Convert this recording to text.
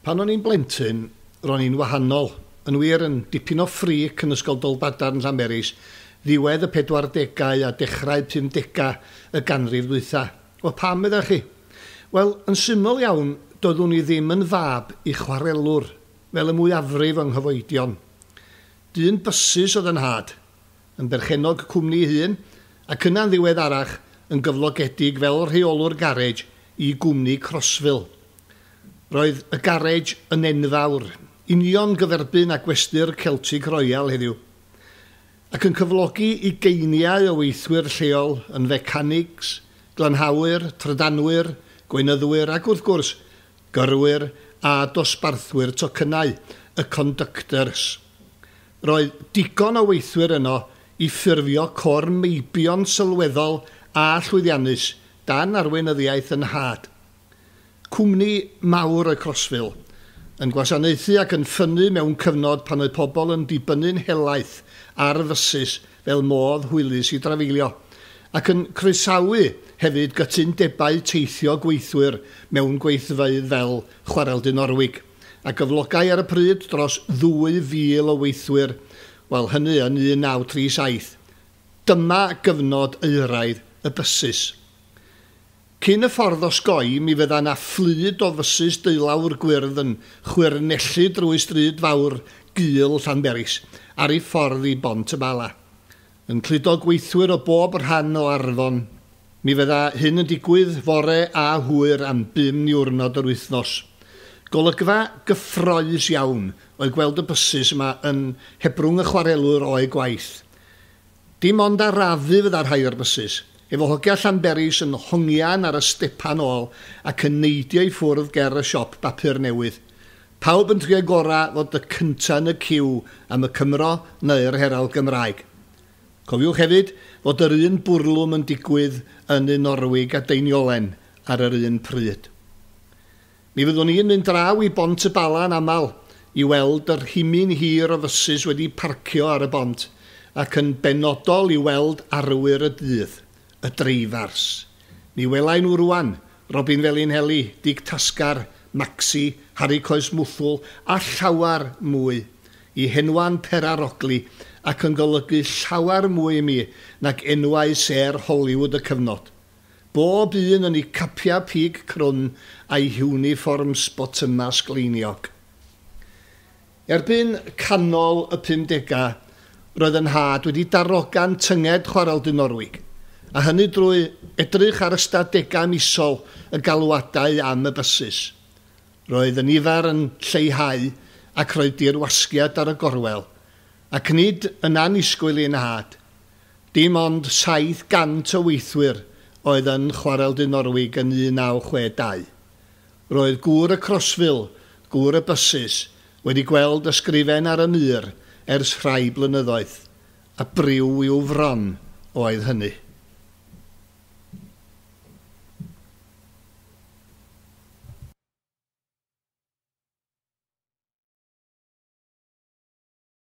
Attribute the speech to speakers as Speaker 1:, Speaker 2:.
Speaker 1: Pan o'n i'n blentyn, ro'n i'n wahanol, yn wir, yn dipyn o ffrîc yn Ysgol Dolbadarn Llanberis ddiwedd y pedwardegau a dechrau pumdega y ganrif ddwytha. Wel, pam, meddach chi? Wel, yn syml iawn, doeddwn i ddim yn fab i chwarelwr, fel y mwyafrif o'n nghyfoedion. Dyn bysus oedd 'y nhad, yn berchennog cwmni ei hun, ac yna'n ddiweddarach yn gyflogedig fel rheolwr garej i gwmni Crossville. Roedd y garej yn enfawr, union gyferbyn â gwesty'r Celtic Royal heddiw, ac yn cyflogi ugeiniau o weithwyr lleol yn fecanics, glanhawyr, trydanwyr, gweinyddwyr ac wrth gwrs, gyrwyr a dosbarthwyr tocynnau, y conductors. Roedd digon o weithwyr yno i ffurfio côr meibion sylweddol a llwyddiannus dan arweinyddiaeth 'y nhad. Cwmni mawr oedd Crossville, yn gwasanaethu ac yn ffynnu mewn cyfnod pan oedd pobl yn dibynnu'n helaeth ar fysus fel modd hwylus i drafeilio, ac yn croesawu hefyd gytundebau teithio gweithwyr mewn gweithfeydd fel Chwarel Dinorwig. a gyflogai ar y pryd dros 2,000 o weithwyr, wel hynny yn 1937. Dyma gyfnod euraidd y bysus. Cyn y ffordd osgoi, mi fydda 'na fflyd o fysus deulawr gwyrdd yn chwyrnellu drwy stryd fawr gul Llanberis ar ei ffordd i Bont-y-bala. yn cludo gweithwyr o bob rhan o Arfon. Mi fydda hyn yn digwydd fore a hwyr am bum niwrnod yr wythnos. Golygfa gyffroes iawn oedd gweld y bysus yma yn hebrwng y chwarelwr o'u gwaith. Dim ond arafu fydda rhai o'r bysus, efo hogia Llanberis yn hongian ar y stepan ôl ac yn neidio i ffwrdd ger y siop bapur newydd. Pawb yn trio gora fod y cynta yn y ciw am y Cymro neu'r Herald Gymraeg. Cofiwch hefyd fod yr un bwrlwm yn digwydd yn y Norwig a Deiniolen ar yr un pryd. Mi fyddwn i'n mynd draw i Bont y Bala yn aml i weld yr himyn hir o fysus wedi parcio ar y bont ac yn benodol i weld arwyr y dydd y dreifars. Mi welai nhw rŵan, Robin Felinheli, Dig Tasgar, Maxi, Harri Coes Mwthwl a llawer mwy. Y henwau'n perarogli ac yn golygu llawer mwy i mi nag enwau sêr Hollywood y cyfnod. Bob un yn eu capiau pig crwn a'u hiwnifforms botymau sgleiniog. Erbyn canol y pumdegau, roedd y nhad wedi darogan tynged Chwarel Du Norwig, a hynny drwy edrych ar ystadegau misol y galwadau am y bysus. Roedd y nifer yn lleihau ac roedd dirwasgiad ar y gorwel, ac nid yn annisgwyl i'n nhad. Dim ond 700 o weithwyr oedd yn Chwarel Du Norwig yn 1962. Roedd gŵr y Crossville, gŵr y bysus, wedi gweld ysgrifen ar y mur ers rhai blynyddoedd, a briw i'w fron oedd hynny.